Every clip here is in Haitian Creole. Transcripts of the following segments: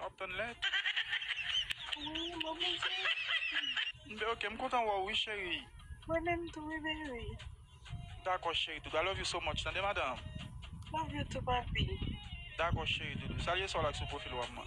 Wap tann lèt. Wi mwen bouke. M de ok m kontan wè w wi cheri. Mwen menm tou wi baby. Dakò cheri doudou I love you so much tande madanm. Love you tou papi. Dakò cheri doudou salye sa w lak sou pwofil wap man.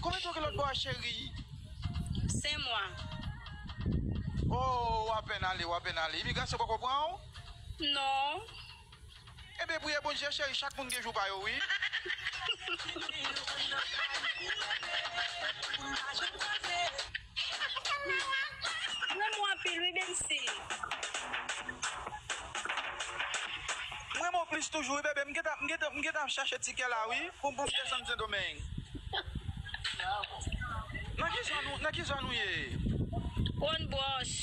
Konbyen tan ou gen lòt bò a cherie? 5 mwa. Oh ou apèn ale ou apèn ale imigrasyon poko pran ou? Non. Ebyen priye Bondye cherie chak moun gen jou pa yo wi. renmen w anpil wi bensy. M renmen w plis toujou wi bebe m gentan ap chache tikè la wi pou m desann sendomeng nan ki zòn ou ye. Wonn bwòch.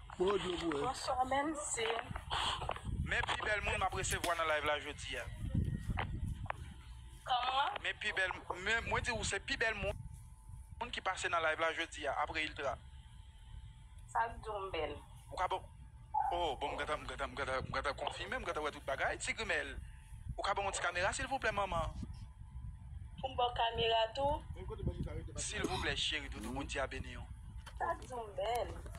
Bonswa men se Men pi bèl moun map resevwa nan live la jodia Kòman? Men pi bèl men mwen di ou se pi bèl moun moun ki pase nan live la jodia apre Iltra Sak diw m bèl? Ou ka banm Oh bon m gentan m gentan m gentan m gentan konfime m gentan wè tout bagay Ti grimèl Ou ka banm yon ti kamera silvouplè manman? Poum baw kamera tou? Silvouplè cheri doudou Bondye a beniw. Sak diw m bèl?